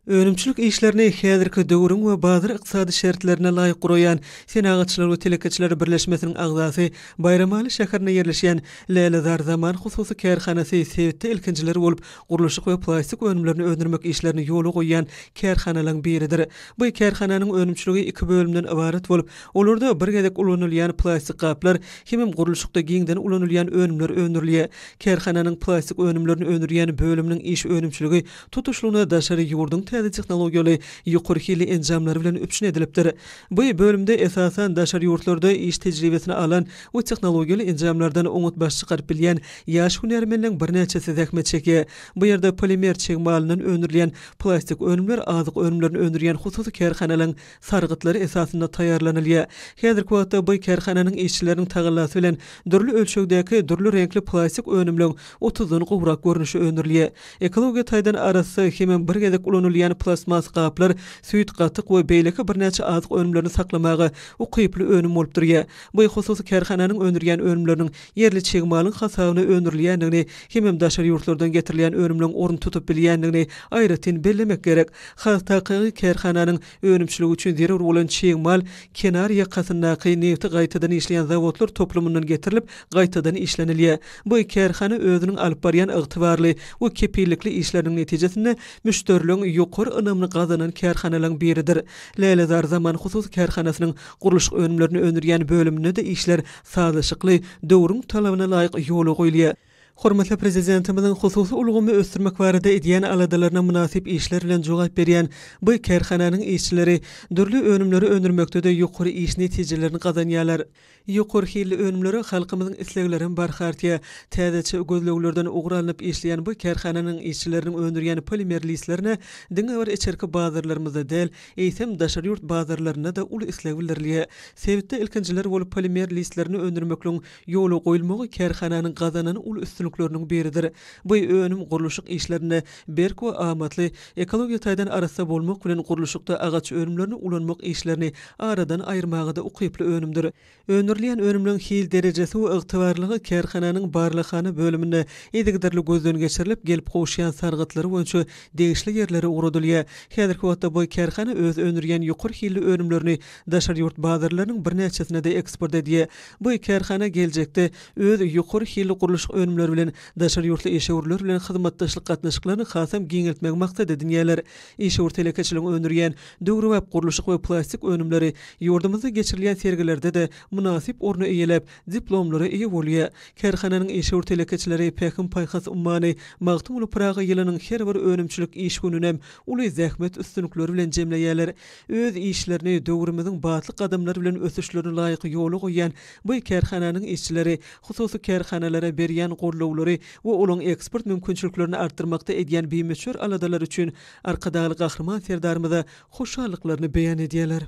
Önümçilik işlerini häzirki döwrüň we bazar ykdysady şertlerine laýyk guraýan Senagatçylar we telekeçiler birleşmesiniň agzasy, Baýramaly şäherinde ýerleşýän Lälezar Zaman hususy kärhanasy sebitde ilkinjiler bolup gurluşyk we plastik önümlerini öndürmek işlerini ýola goýýan kärhanalaň biridir. Bu kärhananyň önümçiligi iki bölümden ybarat bolup, olarda bir gezek ulanylýan plastik gaplar hemem gurluşykda giňden ulanylýan önümler öndürilýär. Kärhananyň plastik önümlerini öndürýän bölüminiň iş önümçiligi tutuşlygyna daşary ýurduň täze tehnologiýaly ýokary hilli enjamlary bilen üpjün edilipdir. Bu bölümde, esasan, daşary ýurtlarda iş tejribesini alan we tehnologiýaly enjamlardan oňat baş çykaryp bilýän ýaş hünärmenleň birnäçesi zähmet çekýär. Bu ýerde polimer çig malyndan öndürilýän plastik önümler, azyk önümlerini öndürýän hususy kärhanalaryň sargytlary esasynda taýýarlanylýar. Häzirki wagtda bu kärhananyň işçileriniň tagallasy bilen dürli ölçegdäki, dürli reňkli plastik önümleň otuzdan gowrak görnüşi öndürilýär. Ekologiýa taýdan arassa hemem bir gezek ulanylýan plastmas gaplar süýt, gatyk we beýleki birnäçe azyk önümlerini saklamaga ukyply önüm bolup durýar. Bu hususy kärhananyň öndürýän önümleriniň ýerli çig malyň hasabyna öndürilýändigini hemem daşary ýurtlardan getirilýän önümleň orun tutup bilýändigini aýratyn bellemek gerek. Haztakygy kärhananyň önümçiligi üçin zerur bolan çig mal kenar ýakasyndaky nebti gaýtadan işleýän zawodlar toplumyndan getirilip, gaýtadan işlenilýär. Bu kärhana özüniň alyp barýan ygtybarly we kepillikli işleriniň netijesinde müşderileriň ýokary ynamyny gazanan kärhanalaryň biridir. Lälezar Zaman hususy kärhanasynyň gurluşyk önümlerini öndürýän bölüminde-de işler sazlaşykly, döwrüň talabyna laýyk ýola goýulýar. Hormatly Prezidentimiziň hususy ulgamy ösdürmek barada edýän aladalaryna mynasyp işler bilen jogap berýän bu kärhananyň işçileri dürli önümleri öndürmekde-de ýokary iş netijelerini gazanýarlar. Ýokary hilli önümlere halkymyzyň isleglerem barha artýar. Täzeçe gözleglerden ugur alnyp işleýän bu kärhananyň işçileriniň öndürýän polimer listlerine diňe bir içerki bazarlarymyzda däl, eýsem, daşary ýurt bazarlarynda-da uly isleg bildirilýär. Sebitde ilkinjiler bolup polimer listlerini öndürmekligiň ýola goýulmagy kärhananyň gazanan uly üstünlikleriniň biridir. Bu önüm gurluşyk işlerinde berk we amatly, ekologiýa taýdan arassa bolmak bilen gurluşykda agaç önümlerini ulanmak işlerini aradan aýyrmaga-da ukyply önümdir. Öndürilýän önümleň hil derejesi we ygtybarlylygy kärhananyň barlaghana bölüminde yzygiderli gözden geçirilip, gelip gowuşýan sargytlary boýunça degişli ýerlere ugradylýar. Häzirki wagtda bu kärhana öz öndürýän ýokary hilli önümlerini daşary ýurt bazarlarynyň birnäçesine-de eksport edýär. Bu kärhana geljekde öz ýokary hilli gurluşyk önümleri bilen daşary ýurtly işewürler bilen hyzmatdaşlyk gatnaşyklaryny hasam giňeltmegi maksat edinýärler. Işewür telekeçiligiň öndürýän Döwrebap gurluşyk we plastik önümleri ýurdumyzda geçirilýän sergilerde-de mynasyp orny eýeläp, diplomlara eýe bolýar. Kärhananyň işewür telekeçileri Pähim-paýhas ummany Magtymguly Pyragy ýylynyň her bir önümçilik iş gününem uly zähmet üstünlikleri bilen jemleýärler. Öz işlerini döwrümiziň batly gadamlary bilen ösüşlerine laýyk ýola goýýan bu kärhananyň işçileri hususy kärhanalara berýän gollawlary we olaryň eksport mümkinçiliklerini artdyrmakda edýän bimöçber aladalary üçin Arkadagly Gahryman Serdarymyza hoşallyklaryny beýan edýärler.